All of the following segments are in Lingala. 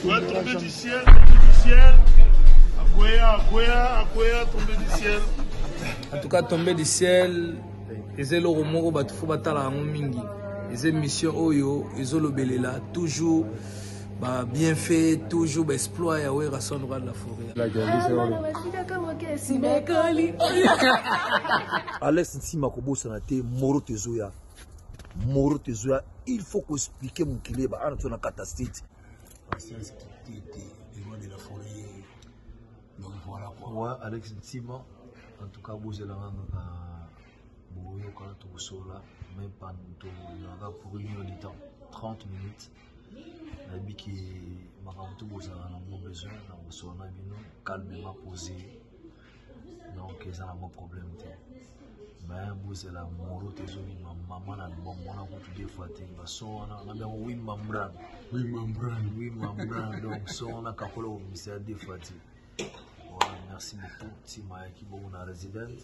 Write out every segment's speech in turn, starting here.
Akwea tombe du ciel, tombe du ciel. Akwea, akwea, akwea tombe du ciel. En tout cas, tombe du ciel eza eloko moko bato fo batala yango mingi. Eza émission oyo ezolobelela toujours ba bien fait toujours ba exploit ya Werrason roi de la forêt. Alex Nsima kobosana te moro tezoya moro tezoya il faut ko expliquer mokili ba ana tona kata state patience kitete le roi de la forêt donc voilà quoi ouais Alex Ntima en tout cas bozela nganga ka boyoka tokosola mais pan tozalaka pour une heure de temps 30 minutes nayebi ke makambo to bozala nango besoin na kosola na bino calmement posé donc eza na mwa problème te me bozela moro te ezobima mama na bamona kutu de fois te baso wana nabi yango wi mambran wi mambran wi mambran donc so wana kakola kobimisa ya de fois te voilà merci beaucoup ntima yaki bongo na résidence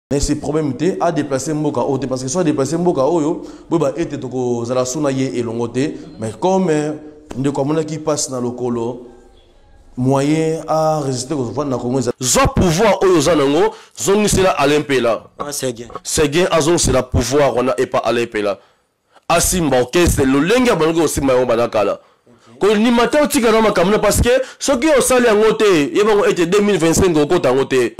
mais c'est problème te a déplacer mboka oyo te parce que soit déplacer mboka oyo boyeba ete tokozala so na ye elongo te mais comme euh, ndeko amonaki mpasi na lokolo moyen a résister kovanda na congo eza zwa pouvoir oyo oza nango zongisela alain mpela ah, seguin azongisela pouvoir wana epa alain mpela asimba orchestre lolenge abandaki kosimba yango banda kala kondima te otika na makambo na parce que soki osali yango te yebango ete 2025 okota yango te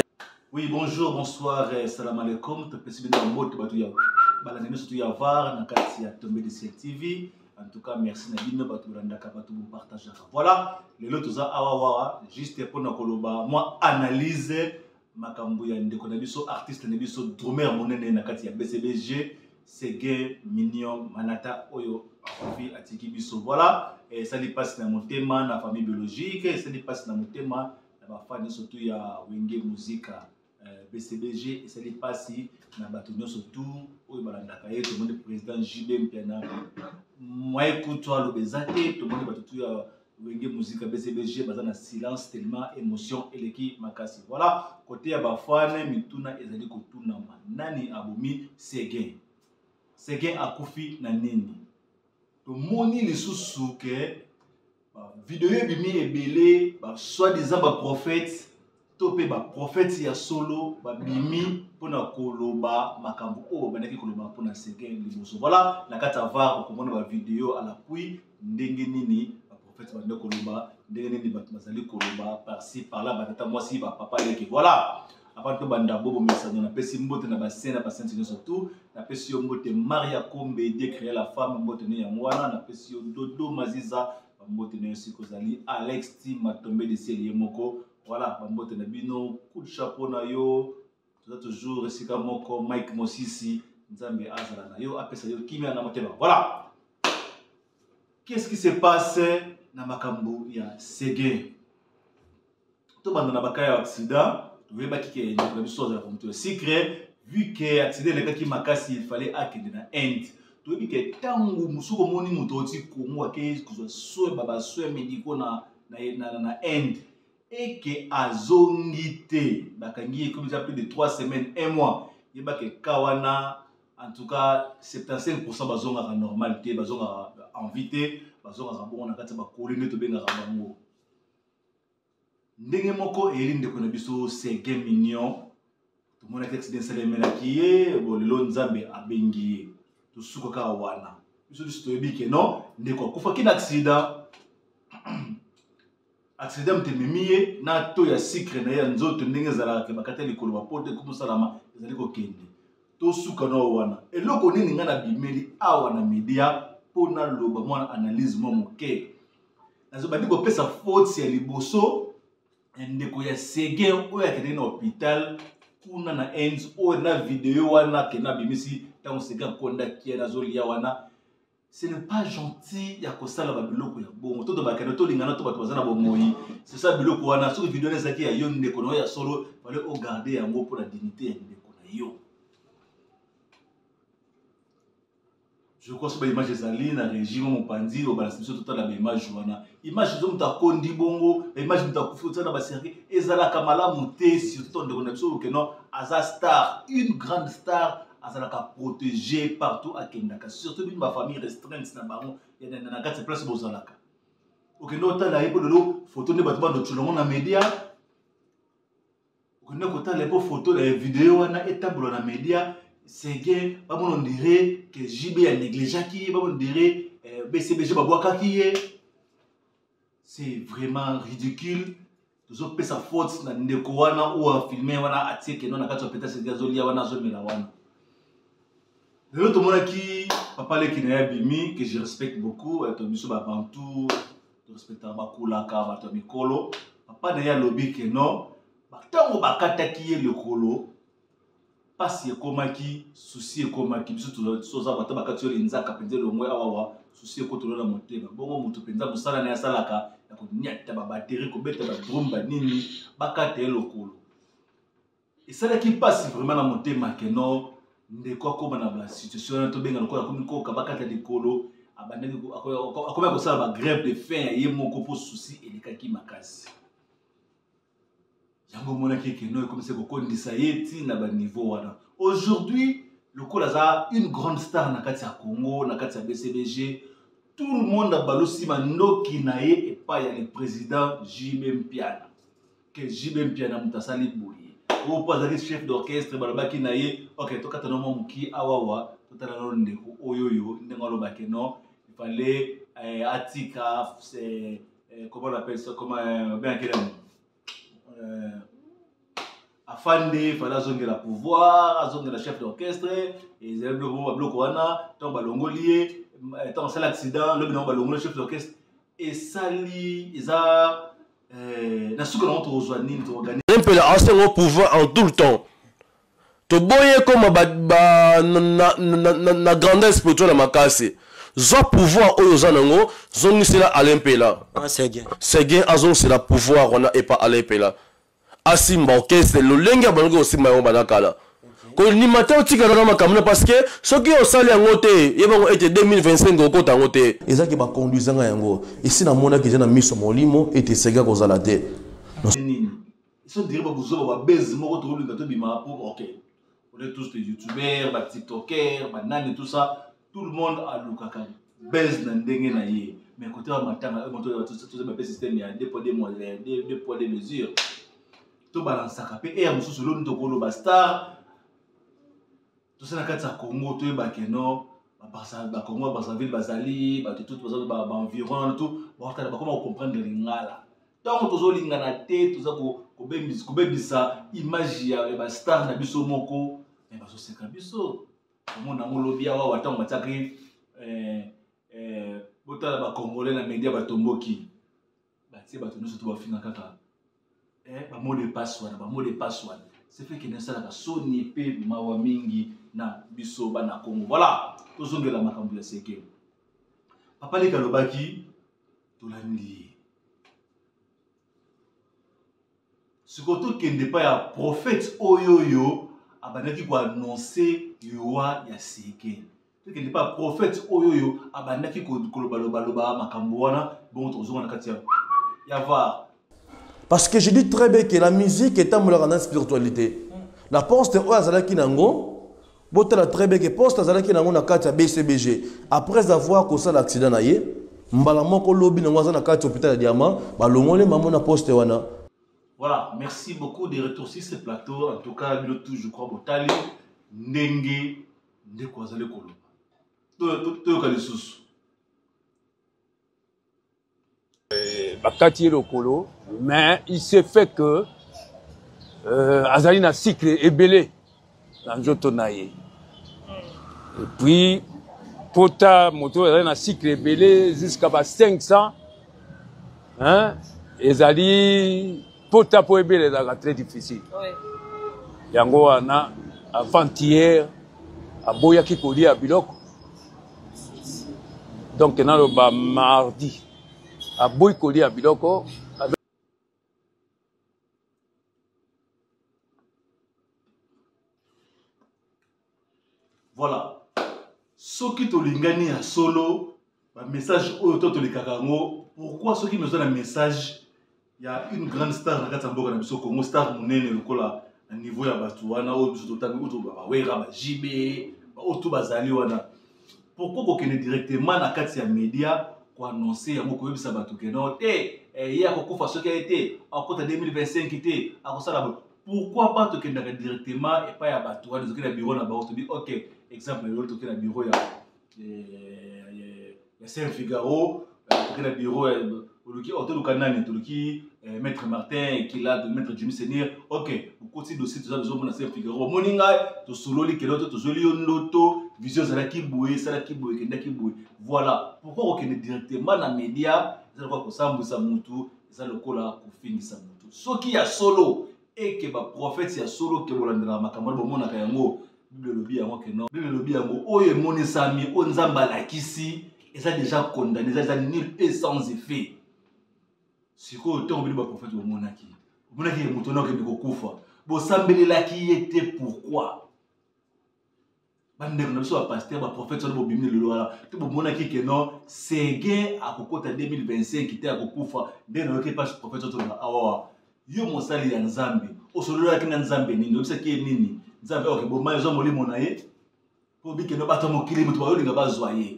Oui, bonjour, bonsoir, euh, salam alaikum. Topesi bino mbote bato ya balandi nyonso to ya var na kati ya Tombe de Ciel TV. En tout cas, merci na bino bato bolandaka bato bopartageaka. Voilà, lelo toza awa wawa juste mpo na koloba mwa analyse makambo ya ndeko na biso artiste na biso drumeur monene na kati ya bcbg sege minion manata oyo akofi atiki biso voilà esali mpasi na motema na famille biologique esali mpasi na motema na bafani surtout ya wenge muzika bcbg euh, esali mpasi na bato nyonso tu oyo balandaka ye tomoni président jb mpiana moye kutu aloba eza te tomoni bato tu ya Wenge musique ya BCBG baza na silence tellement émotion eleki makasi. Voilà, côté ya ba fan mituna ezali kotunama. Nani abomi Seguin? Seguin akufi na nini? Tomoni lisusu ke ba video ebimi ebele ba soi-disant ba prophètes to mpe baprofeti ya solo babimi mpo na koloba makambo oyo babandaki koloba mpo na seke liboso voilà na kati ya var okomona bavideo alapui ndenge nini baprofeti bande koloba ndenge nini bato bazali koloba parci parla batata mwasi bapapa leke voilà avant tobanda bobo mesano napesi mbote na basene na basenti nyonso tu napesi yo mbote maria kombe de créer la femme mbote ne yango wana napesi yo dodo maziza bambote na yo sika ozali alex ti matombe de ciel ye moko voilà bambote na bino coup de chapeau na yo toza toujours esika moko mike mosisi nzambe azala na yo apesa yo kimia na motema voilà qu'est ce qui se passe na makambo ya sege tobanda na bakai ya aksida toyebaki ke ndeko na biso azalaka moto ya sikre vu ke aksida elekaki makasi ifale akende na inde toyebi ke ntango mosusu komoni moto oti kongo akei kozwa soin babasoin mediko na, na, na, na inde eke azongi te bakangi ye ekomi eza plus de 3 semaines 1 mois yebaka eka wana en tout cas 75 pourcent bazongaka normal te bazongaka envie te bazongaka bongo na kati ya bakoli nde tobengaka bango ndenge moko eyeli ndeko na biso serge mignon tomonaki accident esalemelaki ye bo lelo nzambe abengi ye tosuka kaka wana biso biso toyebi ke non ndeko akufaki na accident accident moto ememi ye na to ya sikre na ye ya nzoto ndenge ezalaka ke bakata likolo bapoto ekomi osalama ezali kokende tosuka nao wana eloko nini ngai nabimeli awa na media mpo naloba mwana analyse mwa moke nazobandi kopesa foti ya liboso ndeko ya sege oyo akendeki na hôpital kuna na inde oyo na video wana akenda abimisi ntango sege akondaki yana azolia wana ce n'est pas gentil ya kosala babiloko ya bongo to tobakende tolingana to bato baza na bomoi sesa biloko wana soki video wana ezalaki ya yo ndeko na yo ya solo fale ogarde yango mpo na dignité ya ndeko na yo je crois soki baimage ezali na regime mopanzi lobalasi biso totala baimage wana image ezo moto akondi bongo baimage moto akufi kotiana baserke ezalaka malamu te surtout ndeko na biso okeno aza star une grande star azalaka protégé partout akendaka surtout bino bafamille restreinte na bango na kati ya place bozalaka okende otala ye mpo lelo foto nde bato bandocolongo na média okende kotala mpo foto ya video wana etambola na media sege bamona ondire ke jb ya negligeaki ye bamona ondire eh, bcbg babwakaki ye c'est vraiment ridicule tozopesa faute na ndeko wana oyo afilme wana atie keno na kati ya peta sege azolia wana azomela wana lelo tomonaki papa leki na ye abimi que je respecte beaucoup eh, to biso babantu respectaka bakulaka bato ya mikolo papa na ye alobi ke no ntango bakataki ye lokolo mpasi ekomaki susi ekomaki biso toza bata bakati yo linzaka mpenza elongwe awawa susi ekotolo na motema bongo moto mpenza mosala na ye asalaka ya konyata babateri kobeta badrum banini bakata ye lokolo esalaki mpasi vraiment na motema que non ndeko akoma na basituation wana tobenga lokola akomi koka bakata likolo abandaki akomi akosala bagrève de fin ya ye moko mpo susi elekaki makasi yango omonaki ekeno ekomisi kokondisa ye ti na baniveau wana aujourd'hui lokola aza une grande star na kati ya congo na kati ya bcbg tout le monde abalusi mandoki na ye epai ya le président jm mpiana que JB Mpiana moto asali boye oyo mpo azali chef d'orchestre balobaki na ye ok tokata na mwa moki awawa totala nano ndeko oyo oyo ndenge alobaki no ifale eh, atika eh, eh, comment on appelle ça comment euh, bien quel euh, afande ifale azongela pouvoir azongela chef d'orchestre ezali biloko moko babiloko wana ntango balongoli ye ntango asali accident lobi nango balongoli chef d'orchestre esali eza eh, na suka nango tokozwa nini toorganize mpela asengo pouvoir en tout le temps toboyi ekoma ba, ba, na, na, na, na, na grandeur spirituel ya makasi zwa pouvoir oyo oza nango zongisela alain mpela ah, seguin azongisela pouvoir wana epa alain mpela asimba orchestre lolenge abandaki kosimba yango banda kala kondima te otika na makambo na parce que soki osali yango te yebango ete 2025 okota yango te ezaki bakonduisanga yango esi namonaki eza na miso molimo ete esengeli kozala te nini so dire babuzoba babezi moko tokolinga tobima po ok on est tous des youtubeurs ba tiktoker banani tout ça tout le monde alukaka base na ndenge na ye mais kote ya matanga oyo moto toza bape système ya deux poids deux mois euh, deux poids deux mesure tobalansaka mpe eya mosusu eloni tokoloba star toza na kati ya congo toyeba keno bakongo ya brazzaville bazali bato tout baza baenviron tout bakotala bakoma kocomprendre lingala ntango tozolingana te toza kobebisa image ya bastar na biso moko me bazoseka biso omona yango lobi ya wawa ntango batiaki eh, eh, botala bacongolais na media batomboki batie bato nyonso to bafinga kaka eh, bamo de passe wana bamo de passe wana sefeke nasalaka soni mpe mawa mingi na biso bana kongo voilà tozongela makambo ya seke papa leki alobaki tolandi ye sikoyo tokende epai ya profete oyo oyo abandaki koannonse liwa ya seke tokende epai ya profete oyo oyo abandaki kolobalobaloba makambo wana bongo tokozonga na kati ya ya var parce que je dis très bien que la musique etambolaka na spiritualité na poste oyo azalaki na yango Botala très bien que poste azalaki nango na kati ya BCBG après avoir kosala accident na ye mbala moko lobi nango aza na kati hôpital ya Diamant balongole maman na poste wana Voilà, merci beaucoup de retour sur ce plateau. En tout cas, bino tout je crois botali ndenge ndeko azali koloba. Toyoka lisusu. Eh, bakati ye lokolo mais il se fait que euh, azali na cycle ebele na nzoto na ye epuis pota moto oyo azali na cycle ebele jusqu'à ba 500 hein, ezali pota mpo ebele ezalaka très difficile yango wana avant-hier aboyaki kolia biloko donc naloba mardi aboyi kolia biloko voilà soki tolingani ya solo bamessage oyo to tolekaka yango pourquoi soki naza na message ya une grande star na kati ya mboka na biso congo star monene lokola na niveau ya bato wana oyo biso totangi oyo tobabawera bajibe baoyo to bazali wana pourquoi kokende directement na kati ya media koannonce yango koyebisa bato ke non te eh, eh, ye akokufa soki aye te akota 2025 te akosala bo pourquoi pas tokendaka directement epai ya bato wana ezoki na biro na bango tobi ok exemple lelo toki na biro ya eh, ya saint figaro oke na biro oluki oh, toluka nani toluki eh, maître martin kila maître jimi seigneur ok okoti dossier toza tozomona se figaro omoni ngai tosololi kelo to tozweli yo ndoto vision ezalaki boye esalaki boye ekendaki boye voilà pourkoi kokende directement na média eza lokola kosambwisa motu eza lokola kofingisa motu soki ya solo et que ba prophètes ya solo ke bolandelaka makambo wana bomonaka yango bible elobi yango ke non bible elobi yango oyo emonisami oyo nzambe alakisi eza déjà condamné eza eza nul et sans effet sikoyo ntango bino baprofete bomonaki omonaki ye moto wana okende kokufa bosambelelaki ye te pourquoi bandeko na biso bapaster baprofete wana bobimi na lelo wana te bomonaki ke non sege akokota 2025 te akokufa nde nayoki mpasi profete otoloba awawa yo mosali ya nzambe osololaki na nzambe nini oyebisaki ye nini nzambe oke boma ezwa molimo na ye mpo bikeno bato ya mokili moto bayolinga bazwa ye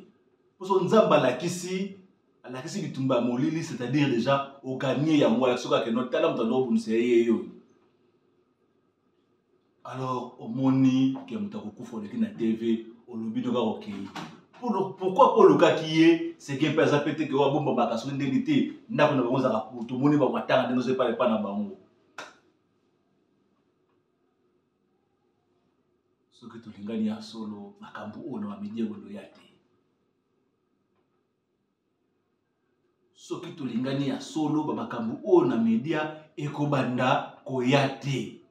mposo nzambe alakisi alakisi bitumba ya molili c'est-à-dire déjà oganie yango alakisi okakeno tala moto andokobundisa ye yeyoyo alors omoni ke moto akokufa oleki na tv olobi ndoka kokei pourkoi mpo olukaki ye seke mpe aza mpe te ke oyo abomba bakasuki ndenge te ndako na bango ozalaka poto omoni bango atanga ndenge ozo epai epai na bango soki tolingani ya solo makambo oyo na bamidie koloya te soki tolingani ya solo bamakambo oyo na media ekobanda koya te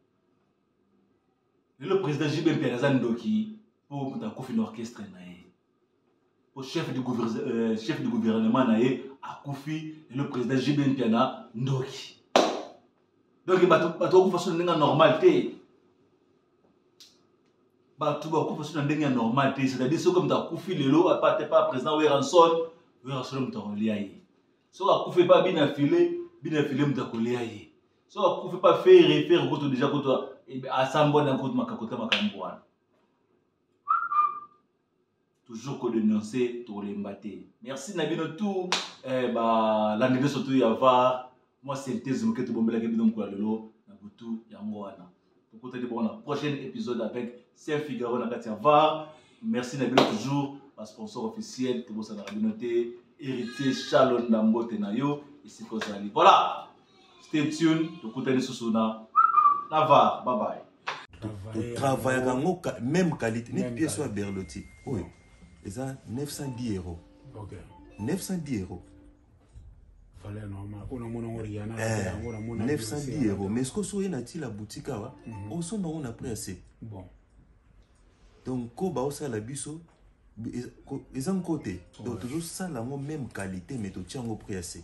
lelo président jb mpiana aza ndoki mpo moto akufi na orchestre na ye mpo chef du, euh, chef du gouvernement na ye akufi lelo président jb mpiana ndoki donc bato bakufa soni ndenge normal te bato bakufa so na ndenge ya normal te c'est-à-dire soki moto akufi lelo apart epa président weranson weranson moto akolia ye soki akufi epa bina file bina file moto akolia ye soki akufi epa fere fere kutu deja kutu asambwani yango kutu makakota makambo wana toujours ko denoncer tokolemba te merci na bino tout eh, balandi nyonso tu ya var mwa synthèse moke tobombelaki bino mokolo ya lelo na butu yango wana tokutani bongo na prochain épisode avec saint figaro na kati ya var merci na bino toujours basponsor officiel tobosanaka bino te héritier charles ndambote na yo esika ozali voilà stay tune tokuta lisusu na na var bye bye totravaillaka yango même qualité neti pièce oyo ya berloti oyo eza 910 euro 910 euro 910 euro mais soki oye na ti la boutique awa osomba yango na prix ya se donc ko baosala biso eza nko te donc tozosala yango meme qualité mais totia yango prix ya se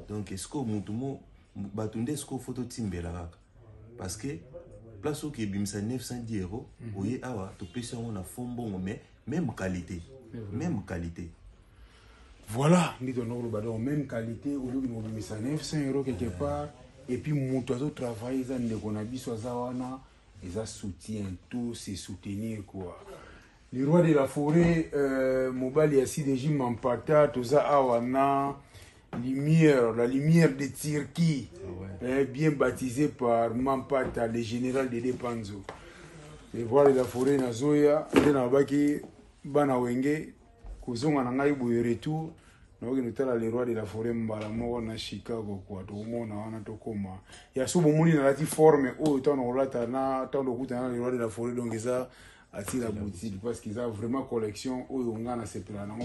donc esiko motu mo bato nde esiko fo totimbela kaka parce que place oki ebimisa 910 euro mhm. oye awa topesi yango na fo mbongo mais meme qualité meme qualité voilà ndiki wana koloba donc meme qualité oyoki mobimisa 900 euro quelque part et puis moto azotravaille eza ndeko na biso aza wana eza soutien to se soutenir quoi le roi de la forêt euh, mobali ya sidegi mampata toza awa na lumière la lumière de turquie ah ouais. eh, bien baptisé par mampata le général de depanzo le roi de la forêt na zoya nde nalobaki bana wenge kozonga na ngai boye retour nakokende otala le roi de la foret mbala moko na chicago kua tokomona wana tokoma ya so bomoni nalati forme oyo ntango nakolata na ntango tokutana na le roi de la foret donc eza atila boutique parce que eza vraiment collection oyo ngai nasepela nango